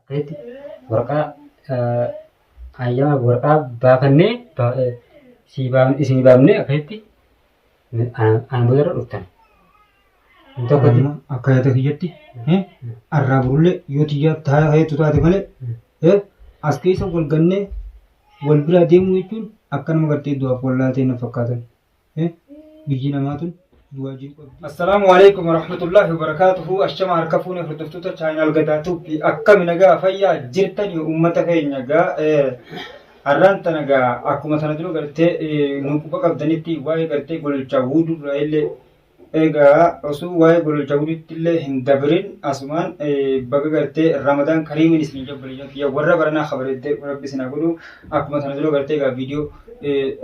ta'etti warqaa hayyama warqaa baafannee isinii baafnee akkasitti ana booda irra dhuftan. Tokkotti akka yaada kiyyatti arraa burullee yoo tiyyaa taa'ee heetu taate malee as keessa wal gannee wal biraa deemuu jechuun akka nama gartee du'aaf wal laatee na fakkaatan. biyyi namaa tun duwaa jiru qabdi. Assalaamu alaikum warahmatullahi wabarakatuhu ashama harka fuune hordoftoota chaayinaal gadaa tuuppi akkami nagaa fayyaa jirtan yoo uummata keenya gaa har'aan tana gaa akkuma sana dura gartee nu quba qabdanitti waa'ee gartee gololchaa wuudurraa illee Egaa osuu waa'ee gololcha guditti illee hin dabrin asumaan baga gartee Ramadaan Kariimiin isin jedhu obboleeyyan kiyya warra baranaa kabareeddee rabbi isin haa godhu akkuma sana dura gartee egaa viidiyoo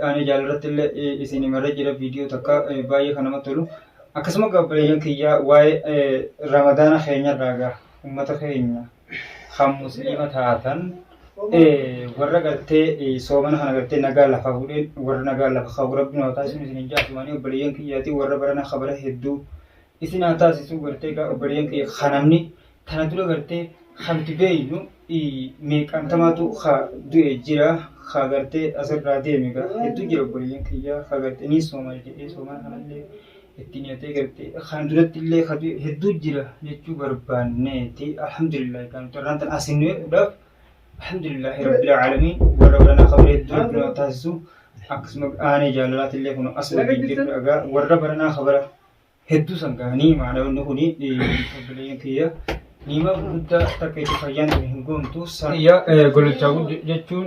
aanee jaala irratti illee isin himarra jira viidiyoo takka baay'ee kan namatti tolu akkasuma egaa obboleeyyan kiyya waa'ee Ramadaana keenya irraa egaa uummata keenya kan musliima taatan warra gartee soomana kana gartee nagaa lafa fuudheen warra nagaa lafa qabu rabbiin haa taasisu isin hin jaasumanii obboleeyyan kiyyaatii warra barana kabara hedduu isin haa taasisu gartee gaa obboleeyyan kiyya kanamni kana dura gartee kanti beeynu meeqantamaatu ka du'e jira ka gartee asirraa deeme gaa hedduu jira obboleeyyan kiyyaa ka gartee ni sooma jedhee soomana kanallee itti niyatee garte kan duratti illee kabi hedduu jira jechuu barbaanneeti alhamdulillah kan carraan tan asin nuyeedhaaf alhamdulillah rabbil alamin warra baranaa kabira hedduu rabbi nama taasisu akkasuma aanee jaalalaati illee kun as waliin jirru dhagaa warra baranaa kabira hedduu san gahanii maanaawwanni kun obboleeyyan kiyya niima guddaa takka itti fayyaan hin goomtu san yaa gololchaa guddi jechuun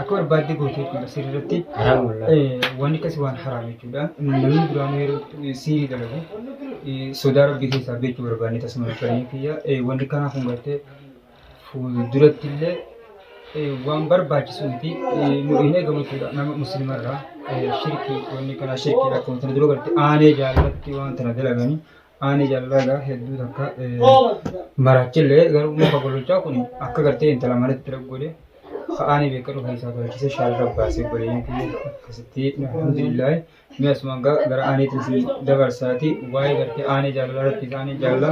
Akka barbaadde goote jechuudha sirri irratti. Haraam wallah. Eh, Wanni akkasii waan haraam jechuudha. Namni duraanuu yeroo eh, siirii dalagu eh, sodaa rabbii keessaa beekuu barbaanne tasuma dhufanii kiyya. Eh, Wanni kanaa kun gartee fuulduratti illee eh, waan barbaachisu miti eh, nu hin eegamu jechuudha nama musliima irraa eh, shirkii wanni kanaa shirkiidha akkuma tana dura gartee aanee jaalatti waan tana dalaganii Ani jallaga hedduu takka marachillee garuu muka gololchaa kun akka gartee intala manatti raggoode ka'aanii beeka dhufa isaa tolchise shaarra baasee godheen kiyya akkasitti alhamdulillahi mi'a suman gara aaniitiin si dabarsaati waa'ee gartee aanee jaalala irratti isaanii jaalala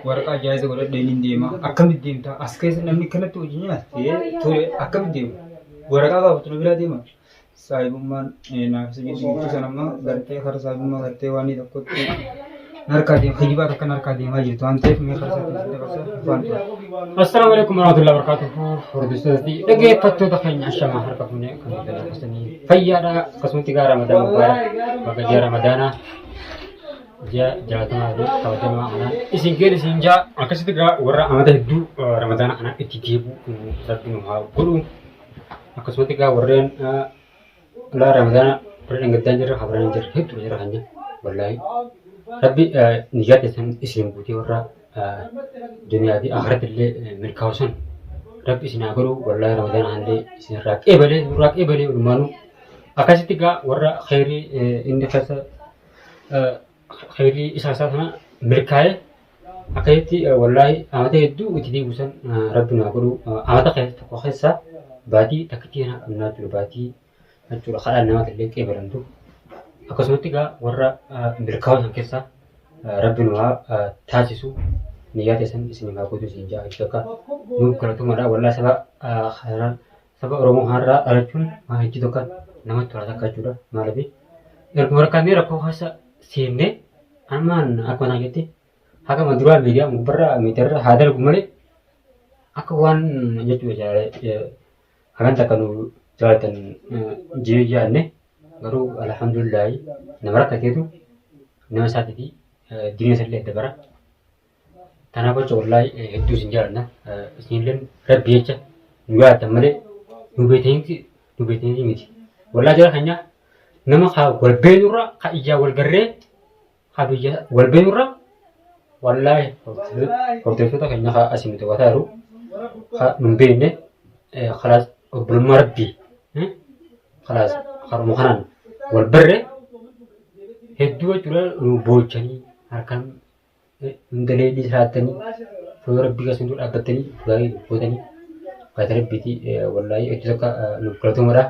waraqaa jaayiza godhadheen hin deema akkamitti deemta as keessa namni kanatti hojii nyaatee ture akkamitti deema waraqaa gaafatu na biraa deema saahibummaan naaf isa jiddu jiddu san amma gartee kara saahibummaa gartee waan tokkotti narkaa deema kijibaa takka narkaa deemaa jirtu waan ta'eef mee kara isaatti isin dabarsa afaan Assalaamu alaikum warahmatullahi wabarakatuh. Hordoftootatti dhaggeeffattoota keenya ashamaa harka fuunee kan dabarfasanii fayyaadha akkasumatti gaa ramadaan gubbaadha bakka ji'a ramadaanaa ji'a jaatamaa fi kabajamaa kanaan isin geel isin jaa akkasitti gaa warra amata hedduu ramadaana kanaan itti deebi'u rabbiin nu haa godhu. akkasumatti egaa warreen ulaa ramadaana warra dhangaddaa jirra habraan jirra hedduu jira hanya wallaahi rabbi niyyaa keessan isin guutee warra duniyaa fi akhiratti illee milkaa'usan rabbi isin haa godhu wallaahi ramadaana hanillee isin irraa qeebalee irraa qeebalee walumaanuu akkasitti egaa warra kheyrii inni keessa Kayrii isaa isaa sana milkaa'e akka jetti wallaahi amata hedduu itti diigu san rabbi naa godhu amata keessa tokko keessa baatii takkittii kanaa qabnaa jiru baatii jechuudha kadhaan namatti illee qeebalamtu akkasumatti egaa warra milkaa'uu san keessa rabbi nu haa taasisu niyyaa teessan isin haa guutu isin jaa jechuudha akka nuuf galatumadha wallaahi saba kanaan Saba Oromoo har'aa dhalachuun waan hojii tokko namatti tola takka jechuudha. Maaliif erguma rakkannee rakkoo keessa seennee ammaan akkuma isaan jetti hagama duraa miidiyaa gubbarraa miidiyaarra haa dalgu malee akka waan jechuudha jaalala hagan takka nu jaalatan jee yaadne garuu alhamdulillahi nama rakkateetu nama isaatiifi diina isallee adda bara. Kanaaf jecha wallahi hedduu isin jaalanna. Isinillee rabbi jecha nu jaalatan malee nu beekanitti nu beekanitti miti. Wallahi jara keenya nama haa wal beenurra haa ijaa wal garree haa biyya wal beenurra wallahi hordoftoota keenya haa asii nuti wataa jiru haa nu hin beekne kalaas obbolummaa rabbi kalaas haruma kanaan wal barre hedduu jechuudha nu boochanii harkaan hundalee illee siraattanii fuula rabbii keessan dura dhaabbattanii gaarii gootanii baata rabbiiti wallaahii hedduu takka nuuf galatoomadha.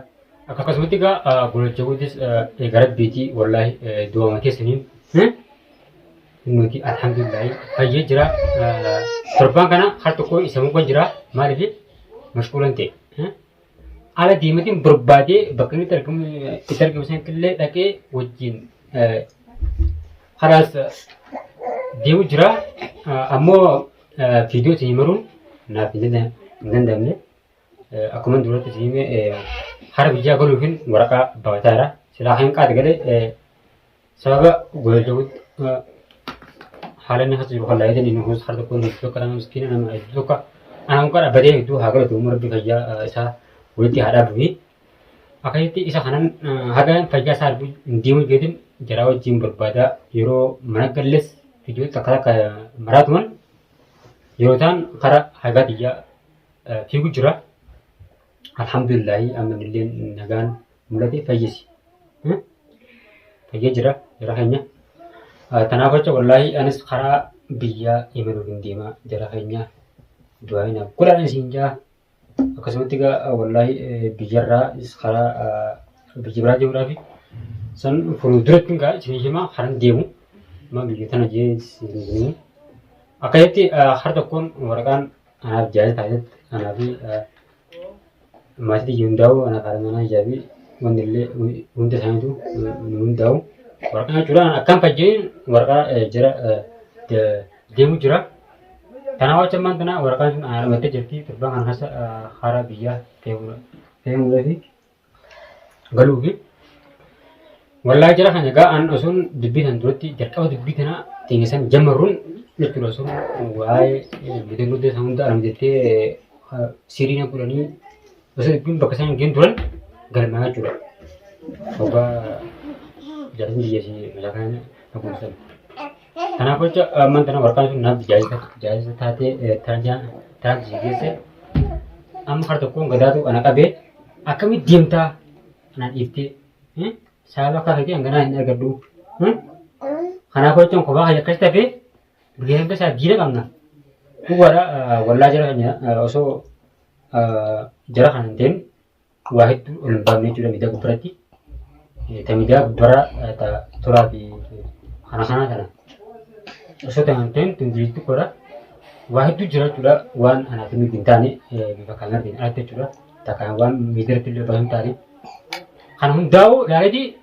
Akkasumatti egaa golacha guutis egaa rabbiiti wallaahii du'aama keessaniin nuti alhamdulillahi fayyee jira. Torbaan kana har tokko isa mugan jira maaliif mashquulan ta'e. Haala deematiin barbaadee bakka inni itti argamu itti argamu sanatti illee dhaqee wajjin eh, haraas eh, deemu jira. Eh, Ammoo eh, viidiyoo isin himaruun naaf hin danda- hin danda'amne. Eh, Akkuma duratti isin hime eh, hara biyyaa galuufin waraqaa baafataa jira. Silaa kan qaata galee eh, sababa godhachuutti haala inni keessa jiru kan laayitanii nu kunis harka kun hedduu akka nama miskiina nama hedduu akka ana muka dhaabbatee hedduu haa godhatu umma rabbi fayyaa isaa walitti haa dhaabu fi akkasitti isa kanan haga fayyaa isaa arguu hin deemu jeetin jaraa wajjin barbaadaa yeroo mana galles fiidiyoo takka takka maraatuman yeroo ta'an karaa hagaa xiyyaa fiigu jira alhamdulillahi ammanillee nagaan mulate fayyisi fayya jira jara keenya tanaaf jecha wallaahi anis karaa biyyaa imaluuf hin deemaa jara keenya du'aa hin godhaan isin jaa akkasumatti egaa wallaahi biyyarraa is karaa biyya biraa deemuudhaafi san furuu duratti egaa isin himaa karan deemu amma biyya tana jee isin himu akkasitti har tokkoon waraqaan anaaf jaayee taasisetti anaafi maatii tiyya hundaa'u ana qaara manaa jaabi wanni illee hunda isaaniitu nu hundaa'u waraqaa jechuudha akkam kan jedhin waraqaa jira deemu jira kanaa wacha ammaan tana waraqaan sun ana dhamattee jirti torbaan kana keessa haaraa biyyaa deemuudha deemuudha fi galuufi wallaa jira kana egaa an osoon dubbii tan duratti jalqaba dubbii tana xiingessan jammarruun jechuudha osoon waa'ee gudee gudee san hunda arm jettee siriina godhanii osoo dubbiin bakka isaan hin geenye turan galmaa jechuudha. Ogaa jaalatni biyya ishee meeshaa kana na kunuunsan. Kanaaf jecha amman tana warqaan sun naaf jaajisa taatee tarjaa taatee si geesse amma har tokkoon gadaatu ana qabee akkamitti deemtaa anaan dhiiftee saala akka keetii hanganaa hin argadhu kanaaf jechuun kophaa kee akkas tafe guyyaa hanga isaa diina qabna dhugaadha wallaa jara keenya osoo jara kana hin ta'in waa hedduu ol hin baafne jechuudha miidiyaa gubbaratti. Ta miidiyaa gubbaraa ta turaa fi kana kanaa kana. Osoo ta'e hin ta'in tun jireenya xiqqoodha. Waa hedduu jira jechuudha waan anaaf hin hin taane bifa kaameraatiin alatti jechuudha. Ta kan waan miidiyaatti illee baay'ee hin taane. Kan hundaa'u ilaalee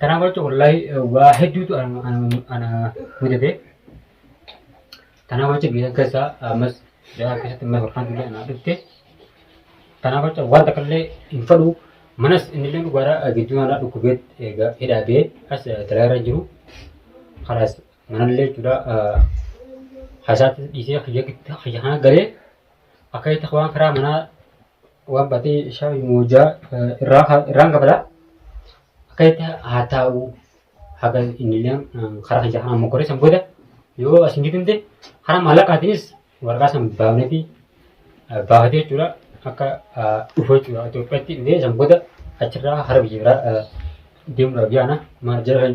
Kanaaf jecha wallahi waa hedduutu ana ana- ana mudate. Kanaaf jecha biyya keessaa ammas biyya keessatti ammas warqaan tullee anaa dhufte. Kanaaf jecha waan takka illee hin fadhu. Manas inni illee dhugaadhaa gidduu anaa dhukkubee egaa hidhaa bee as dalagaa irra hin jiru. Kanaas manallee jechuudha hasaatti dhiisee kiyya kiyya kana galee akka itti waan karaa manaa waan baatee ishaa moojaa irraan kafalaa akka itti haa taa'u haga inni illee karaa kiyya kanaan mokoree san booda yoo as hin gidimte karaa maallaqaatiinis waraqaa san baafneeti baafatee jechuudha akka dhufu jechuudha Itoophiyaatti dhufee san booda achirraa hara biyya biraa deemuudhaaf yaana maal jedhan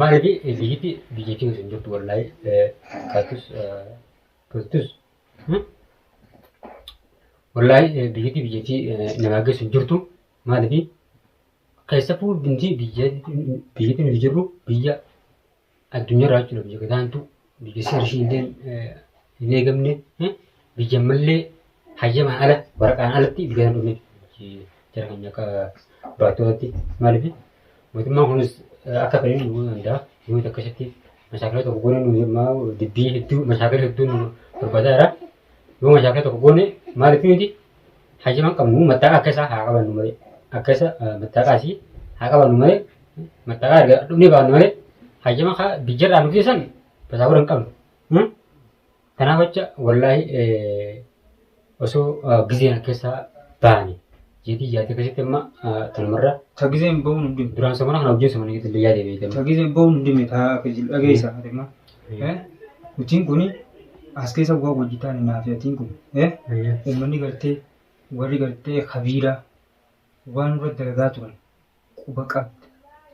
Maaliif biyyatti biyyatti nuti hin jirtu wallahi kaatus kaatus wallahi biyyatti biyyatti namaa geessu hin jirtu maaliif keessattuu dintii biyyatti biyyatti nuti jirru biyya Addunyaa irraa jechuudha biyya gadaantuu biyya seera ishii illee hin eegamne biyya ammallee hayyamaan ala waraqaan alatti biyya kana dhufne jara keenya akka barattootatti maaliif mootummaan kunis akka fedhe nu gochuu danda'a yoo akkasitti mashaakila tokko goone nu yemmaa dubbii hedduu mashaakila hedduu nu barbaadaa jira yoo mashaakila tokko goone maaliif nuti Hayyama qabnu mattaaqa akka isaa haa qabannu malee akka isa mattaaqa isii haa qabannu malee mattaaqa erga dhumnee baannu malee hayyama kaa biyyarraa nu geessan basaabura hin qabnu. Hmm? Kanaaf jecha wallaahi eh, osoo eh, gizeen akka isaa baane jeetii yaadee akkasitti amma eh, tanumarra Ta gizeen ba'uun hin dhimne. duraan samana kana wajjin samana gidduu yaadee beekamu. Ta gizeen ba'uun hin dhimne taa akka jiru dhageessa. Eh, Hojiin kun as keessa bu'aa hojjetaan hin hafe hojiin kun. Eh, Ayyee. Uummanni gartee warri gartee kabiiraa waan irra dalagaa turan quba qabda.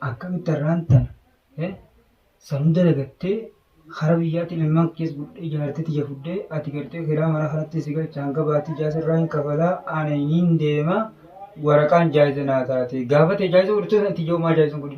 Akkamitti irraan tana eh, sanuu dalagattee hara biyyaatiin ilmaan keessa gudhee ijaartee tiyya fuddee ati gartee kiraa mana kanatti si galcha hanga baatii jaasa irraa hin kafalaa ana hin deema waraqaan jaayisa naa taate gaafate jaayisa godhachuu sana itti ijoomaa jaayisa godhi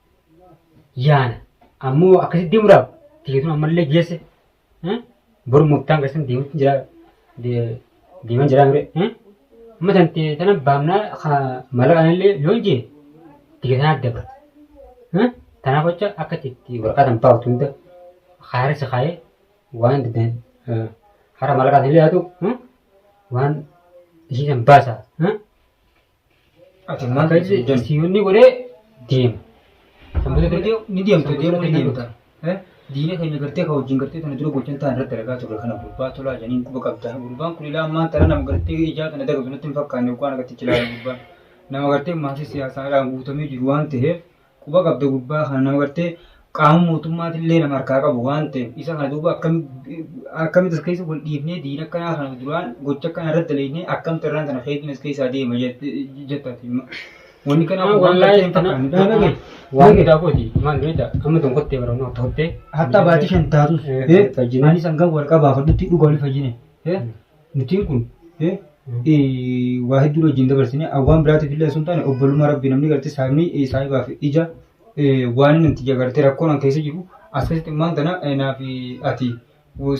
yaana ammoo akkasitti deemuudhaaf tikeetuma ammallee geesse boru murtaan keessan deemutti jira deeman jira mire amma tan ta'e tana baamnaa mala kanallee yoo hin jee tikeetaan adda bara tanaaf jecha akka itti waraqaa tan baaftu hunda haara si kaayee waan danda'an hara mala kanallee haa ta'u waan isii tan baasa Ati maal Akka dhiisuu jechuun si yoonni godhee deema. Sanbata gartee ni deemtu deemuu ni deemta. Eh? Diina keenya gartee kan wajjin gartee tana dura gochan ta'an irratti argaa turre kana gurbaa tolaa jedhaniin quba qabda. Gurbaan kun ilaa ammaan tana nama gartee ijaa tana dagatu natti hin fakkaanne waan akkatti jilaalu gurbaan. Nama gartee maatii siyaasaadhaan guutamee jiru waan ta'eef quba qabda gurbaa kana nama gartee qaama mootummaatillee nama harkaa qabu waan ta'eef isa kana duuba akkamitti as keessa wal dhiifnee diina akkanaa kana duraan gocha akkanaa irratti dalagnee akkamitti irraan kana keetiin as keessaa deema jettati. Wanni kanaa kun waan gartee hin fakkaanne dhaaba ga'e. Waan guddaa kooti maal beekta amma tun kottee bara nu akka kottee. Hatta baatii shan taatus. Fayyinaan. Ani sangan wal qabaa fadhutti dhugaa wal fayyine. Murtiin kun waa hedduu wajjin dabarsine waan biraatiif illee osoo hin taane obbolummaa rabbii namni gartee saamii saahibaaf ija waan inni itti jagartee rakkoon an keessa jiru as keessatti immaan tana naaf ati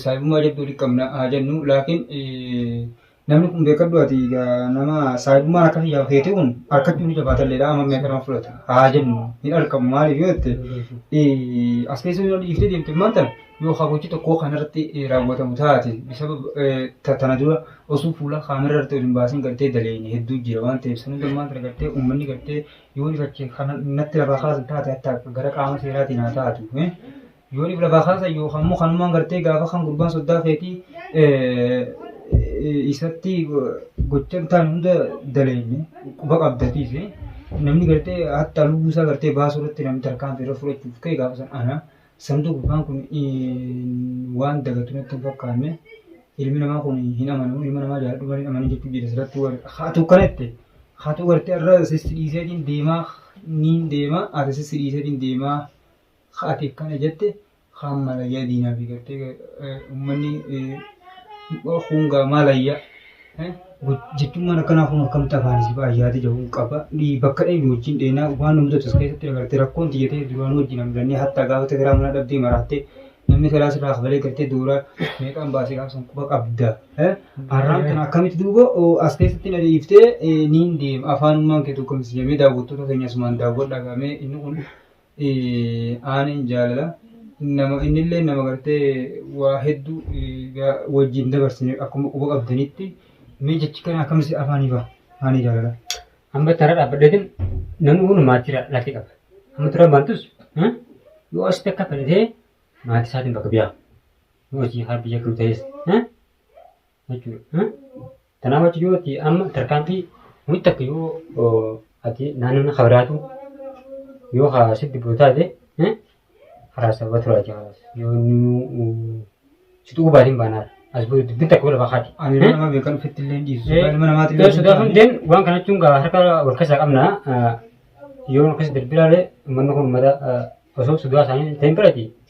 saahibummaa jabduu walitti qabna haa jennu laakiin namni kun beekadhu ati nama saahibummaan akka kiyyaaf keete kun harkachuu ni jabaata illee amma meeqa nama fudhata haa jennu hin argamu maaliif yoo jette as keessa yoo dhiiftee deemte immaan tana Yoo ka gochi tokkoo kan irratti raawwatamu taate bisaba tana dura osoo fuula kaamera irratti ol hin baasin gartee daleeyne hedduu jira waan ta'eef san hunda ammaan tana gartee uummanni gartee yoo ifache kana natti lafaa kaasan taate hatta gara qaama seeraatiin haa taatu. eh. Yoo if lafaa kaasan yookaan immoo kanumaan gartee gaafa kan gurbaan soddaa keetii eh, isatti gocha hin taane hunda daleeyne quba qabdatiif eh. namni gartee hatta lubbuu isaa gartee baasuu irratti namni tarkaanfii irra fudhachuuf ka'e gaafa san ana Samtuu gurbaan kun waan dagatu natti hin fakkaanne ilmi namaa kun hin amanu ilma namaa jaaladhu malee hin amanu jechuun jedhe sirratti waan haatu kana jette haatu gartee irra sissi dhiiseetiin deemaa niin deemaa haati sissi dhiiseetiin deemaa haati akkana jette haan malayyaa diinaa fi gartee ummanni hungaa malayyaa Jechuun akkanaa kun akkamitti afaan si ba'a yaada jedhu qaba. Bakka dheedu wajjin dheena waan nu mudatu as keessatti dabartee rakkoon tiyya ta'e duraan wajjin hamdannee hatta gaafa tekeraa mana dhabdee maraattee namni teraa sirraa kafalee galtee dooraa meeqaan baasee gaafa san quba qabda. Har'aan kana akkamitti duuba as keessatti na dhiiftee niin deema afaanummaan kee tokko misjamee daawwattoota keenya asumaan daawwadhaa gaamee inni kun Aaniin jaalala nama innillee nama gartee waa hedduu wajjin dabarsine akkuma quba qabdanitti mee jechi kana akkamsi afaan hifa aanii jaalala. Amma tara dhaabbadeetin namni kun maatii lakkee qaba. Amma tara baantus yoo asitti akka fedhatee maatii isaatiin bakka biyaa. Yoo hojii haa biyya kan ta'es. jechuudha. Kanaaf achi yoo ati amma tarkaanfii nuti takka yoo ati naannoo kabiraatu yoo haa sitti bulu taate karaa sababa turaa jira. Yoo inni si tuquu baatiin baanaa as bulu dubbiin takka wal lafa kaati. Ani nama beekan ofitti illee dhiisu. Ilma namaatti illee Sodaa kan deemu waan kana jechuun gaa harka wal keessaa qabna. Yoo wal keessa darbinaalee uummanni kun uummata osoo sodaa isaanii ta'in birati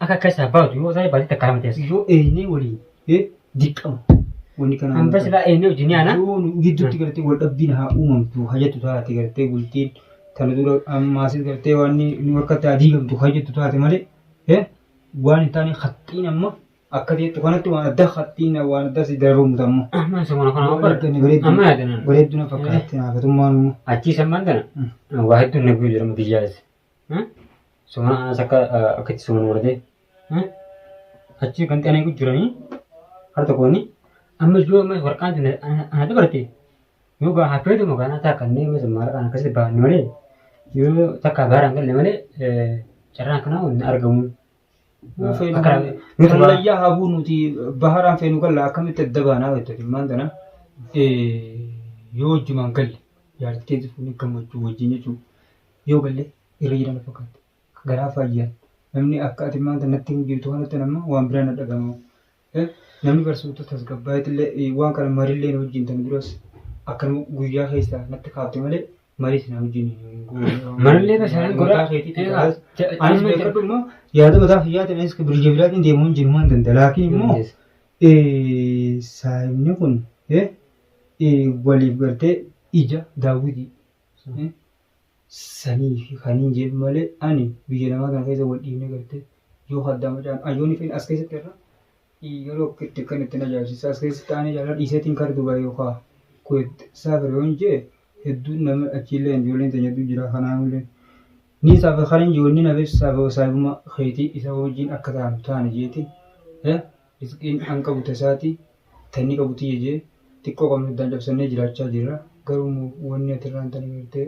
Akka akka isaa baatu yoo ta'e baatee takka lama ta'e. Yoo eenyee waliin eh, dirqama. Wanni kana Hamba silaa eenyee wajjin yaana. Yoo nu gidduutti gartee wal dhabbiin haa uumamtu haa jettu taate gartee bultiin tana dura ammaasis gartee waan ni ni harkatti haa diigamtu haa jettu taate malee eh, waan hin taane haxxiin amma akka jettu kanatti waan addaa haxxiin waan addaa si darabamu amma. Amma samana kana waan barate. Bareeddu bareeddu Amma yaadanan. bareeddu na fakkaatti naafatummaan immoo. Achii sammaan tana. Mm. Waa hedduun na guyyuu jedhama biyyaas. Sumana anas akka akka itti suman warde. Achi kan xanee gujjiranii har tokkooni amma yoo amma warqaan tun ana dabarte yoo gaa hafeetu makaanaa takka inni yoo sun maallaqaan akkasitti baafne malee yoo takka gaaraan galle malee carraan kanaa hin argamu. Kallayyaa habuu nuti baharaan feenu galla akkamitti adda baanaa jettati maan tana yoo wajjumaan galle jaartii keessa fuunee gammachuu wajjin jechuudha. Yoo galle irra jira na fakkaatti. Garaa faayyan. Namni akka ati maanta natti hin jirtu kanatti nama waan biraa na dhagama. Eh, Namni barsiiftuu tasgabbaa'eetillee eh, waan kana marillee na wajjin tan duras akkanuma guyyaa keessa natti kaafte malee marii sana wajjin hin goone. Marillee basaaran godha. Mataa keetiitiin Egaa, taas. ja- Anis amma- beekadhu immoo yaada mataa kiyyaatiin anis birija biraatiin deemuu hin jiru waan danda'a. Laakiin immoo Yes. eh, saayimni kun eh, eh, waliif gartee ija daawwitii. sanii fi kaniin jedhu malee ani biyya namaa kana keessa wal dhiibne gartee yoo haddaa macaan ayyoonni fedha as keessatti irra yeroo itti kan ittiin ajaa'ibsiisa as keessatti aanee jaalala dhiiseetiin kara Dubaay yookaan Kuweet saafira yoon jee hedduun nama achiillee ijoolleen teenya hedduu jira kanaanullee ni saafa kan hin jiru ni nafeef saafa saahibummaa keetii isa wajjin akka taanu taane jeetiin Rizqiin an qabu ta isaati, ta inni qabu tiyya je'e, xiqqoo qabnu addaan cabsannee jiraachaa jirra. Garuu immoo wanni ati irraan tana gartee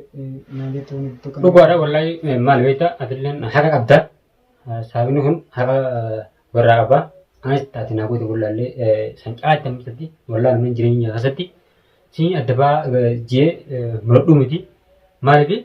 naan jettu wanni ati takka Dhugaadha wallahi maal beekta atilleen haqa qabda saabni kun haqa warraa qaba anis taate naa goote wallaallee san caalaatti amma keessatti wallaalu nan jireenya keessatti siin adda baa jee muradhuu miti maaliif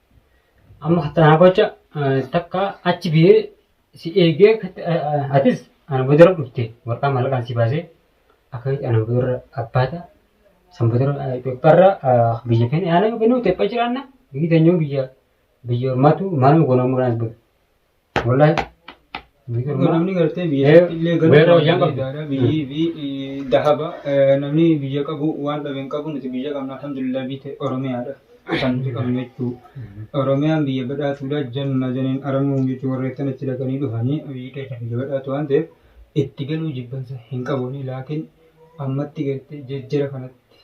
Amma hattaa gocha takka achi biyee si eegee atis ana boodara dhufte warqaa mallaqaan si baasee akkamitti ana boodara abbaata san boodara Itoophiyaarra biyya keenya yaana yookiin Itoophiyaa jiraanna biyyi teenyoo biyya biyya ormaatu maaluma goonaa muraas bulu. Wallahi. Erga namni gartee biyya Eh, illee galuu weerra wayyaa qabdi. danda'a. Biyyi fi eh, dahaba eh, namni biyya qabu waan dhabe hin qabu nuti biyya qabna alhamdulillah biite Oromiyaadha. Kan nuti qabnu jechuu. Oromiyaan biyya badhaatuudha janna janiin aramuu jechuun warreettan achi dhaqanii dhufanii biyyi keenya biyya badhaatu waan ta'eef itti galuu jibbansa hin qabu laakiin ammatti gartee jejjera kanatti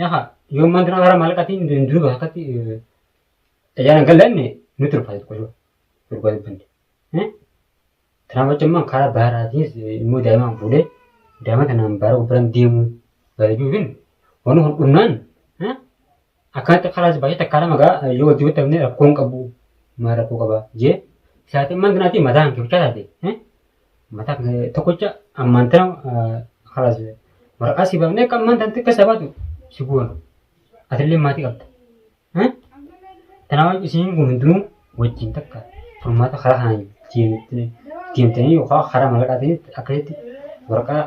Yaha, yoo mantra hara malqatiin hin duru bakkatti tajaajila galanne nutti ulfaatu qofa. Durba dubbanne. Kanaaf jecha immoo karaa baaraatiis immoo daa'imaan fuudhee daa'ima kanaan baara gubbaran deemuu bareeduufin waan kun dhumnaan akkanatti karaas baay'ee takkaa lama gaa yoo wajjin bittamne rakkoon qabu maal rakkoo qaba jee saatiin mantra naatii mataan kibchaa taate Mataa kana tokkocha ammaan tana kalaas waraqaa si baafnee akka ammaan tanatti akka isa baatu si goona. Atillee maatii qabda. Kanaaf isin kun hundinuu wajjin takka furmaata karaa kanaan deemtanii yookaan karaa mallaqaatiin akkasitti waraqaa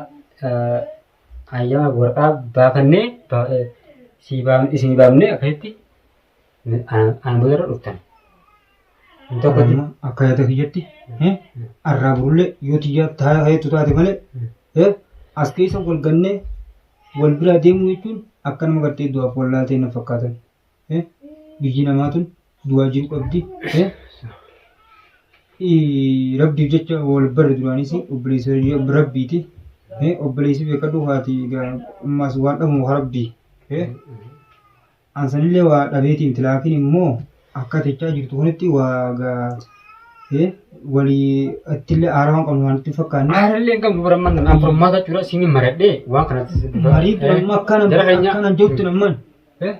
ayyaana waraqaa baafannee isin baafnee akkasitti Ana boodarra dhuftan. Hin tokko Amma jedhu. akka yaada kiyyatti eh, arraa burullee yoo tiyyaa taa heetu taate malee eh, as keessa wal gannee wal biraa deemuu jechuun akka nama gartee du'aaf wal laaltee na fakkaatan. eh, Biyyi namaa tun du'aa jiru qabdi. eh, ii, Rabbiif jecha wal barre duraanis obboleessa rabbiiti. eh, Obboleessi beekadhu haati egaa ummaas waan dhabu haa rabbii. eh, An sanillee waa dhabeeti miti laakiin immoo akka jechaa jirtu kunitti waa gaa eh, walii ittillee aaraa waan qabnu waan itti hin fakkaanne. Aarallee hin qabnu bara amman an furmaata jechuudha siin maradhee waan kanatti si bifa. Marii kun amma akkana Jara keenya- akkana hin jirtu namman. Eh?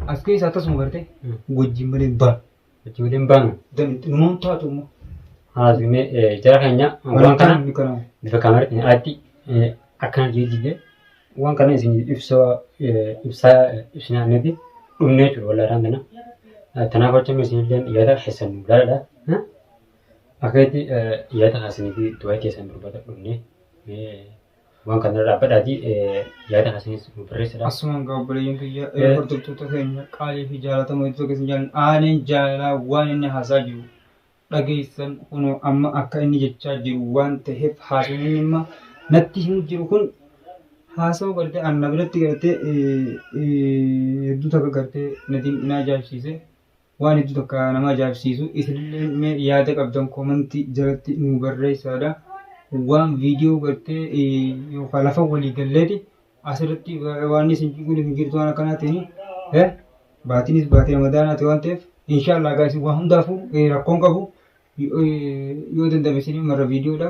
As keessa akkasuma garte Mm. wajjin malee hin baanu. Achi waliin baanu. Numoon taatu immoo. Haasumee jara keenya waan kana bifa kaameraatiin aatti akkana jijjiiree waan kana isin ibsaa ibsaa isin aanneeti dhumnee jiru walaalaan kana. Kanaaf jecha isin illee yaada keessan nu gaadha. Akka itti yaada keessanii fi du'aa keessan dubbata dhumnee. waan kana irraa badhaati yaada kasinis nu barreessadha. Asumaan gaa obboleeyyan kiyya Eh. hordoftoota keenya qaalii fi jaalatamoo iddoo keessa hin jaallan aaneen jaalalaa waan inni haasaa jiru dhageessan kunoo amma akka inni jechaa jiru waan ta'eef haasawni inni amma natti himu jiru kun haasawa gartee anna biratti gartee eh, eh, hedduu takka gartee natiin inaa jaabsiise waan hedduu takka nama ajaa'ibsiisu isinillee mee yaada qabdan koomantii jalatti nu barreessaadha. Waan viidiyoo gartee yookaan lafa walii galleeti asirratti waan isin kun hin jirtu waan akkanaatiin baatiinis baatii ramadaanaati waan ta'eef inshaallah gaa isin waan hundaafuu rakkoon qabu yoo danda'ame isin marra viidiyoodha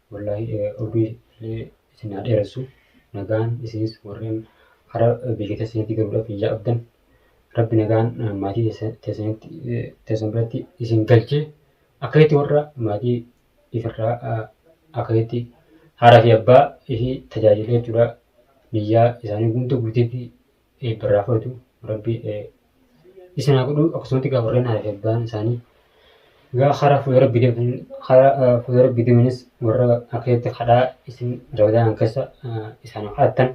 Wallahi urbii illee isin haa dheeressu. Nagaan isinis warreen hara biyya keessanitti galuudhaaf hin yaabdan. Rabbi nagaan maatii teessan biratti isin galchee akkasitti warra maatii ifirraa akkasitti haaraa fi abbaa ishii tajaajilee jechuudha. Niyyaa isaanii hunda guutee fi eebbarraa fudhatu rabbi isin haa godhu akkasumatti gaa warreen haadha abbaan isaanii gaa karaa fuula rabbi deeman karaa fuula rabbi deemanis warra akkasitti kadhaa isin rabadaan keessa isaan kadhattan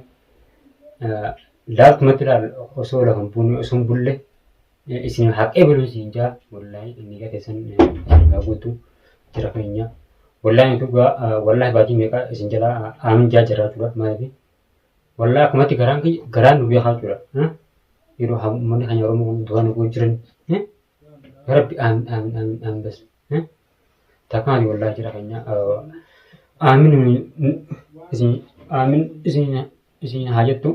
laaltumatti laal osoo lafa hin buune osoo hin bulle isin haqee buluu isin jaa wallaahi inni gaa keessan isin gaa guutu jira keenya wallaahi dhugaa wallaahi baatii meeqa isin jalaa aamin jaa jiraatudha maaliif Wallaa akkumatti garaan kiyya garaan nu beekaa jira. Yeroo haa uummanni keenya Oromoo kun du'aa nu gochuu jiran. Yaa Rabbi aamin aamin aamin aamin bas. Takkaani wallaa jira keenya. Aamin isin aamin isin isin haa jettu.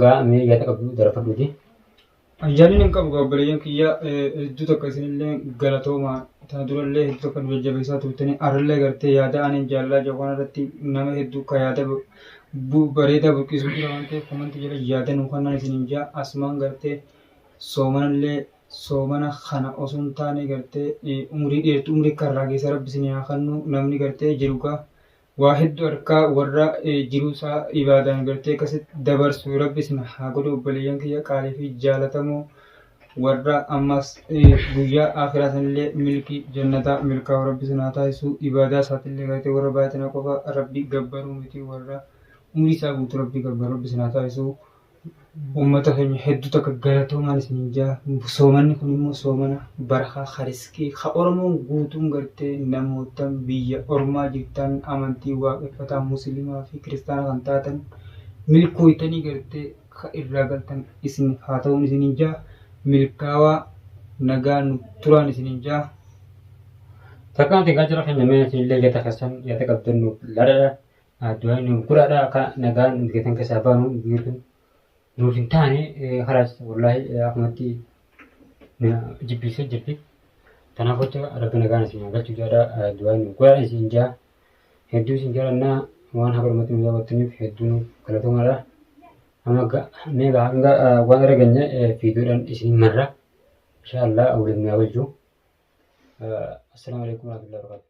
Gaa mee yaada qabdu darafadhuuti. Yaadni hin qabu gaa obboleeyyan kiyya hedduu takka isinillee galatooma tana durallee hedduu takka nu jajjabeessaa turtanii arallee gartee yaada aniin jaalalaa jedhu kana irratti nama hedduu ka yaada bareedaa burqiisuu jira waan ta'eef komantii jala yaada nu kannaan isiniin jaa asumaan gartee soomanallee soomana kana osoo hin taane gartee umrii dheertu umrii karraa keessa rabbi isinii haa kannu namni gartee jiru gaa waa heddu harkaa warra jiruu isaa ibaadaan gartee akkasitti dabarsu rabbi isin haa godhu obboleeyyan kiyya qaalii fi jaalatamoo warra ammas guyyaa akiraa sanillee milkii jannataa milkaa'u rabbi isin haa taasisu ibaadaa isaatillee gartee warra baaxina qofa rabbi gabbaruu miti warra umrii isaa guutuu rabbi gabbaru rabbi isin haa taasisu Uummata keenya hedduu takka galatoomaan isiniin jaa. Soomanni kun immoo soomana barakaa kariskii ka Oromoon guutuun gartee namootan biyya ormaa jirtan amantii waaqeffataa muslimaa fi kiristaana kan taatan milkooytanii gartee ka irraa galtan isiniif haa ta'uun isiniin jaa. Milkaawaa nagaa nu turaan isiniin jaa. Takkaan tegaa jara keenya mee isinillee yada keessan yada qabdan nuuf ladadha. Du'aan nuuf godhaadha akka nagaan biyyatan keessaa baanu biirri nuuf hin taane kalaas wallaahi akkumatti jibbiisee jirti. Kanaaf jecha rabbi nagaan isin haa galchu jaadha du'aan nuuf godhaadha isin jaa hedduu isin jaalannaa waan haga dhumatti nu daawwattaniif hedduu nuuf galatoomaadha. Amma meeqa hanga waan irra geenye fiiduudhaan isin marra. Inshaa Allah waliin nu haa galchu. Assalaamu alaikum warahmatullahi wabarakatuh.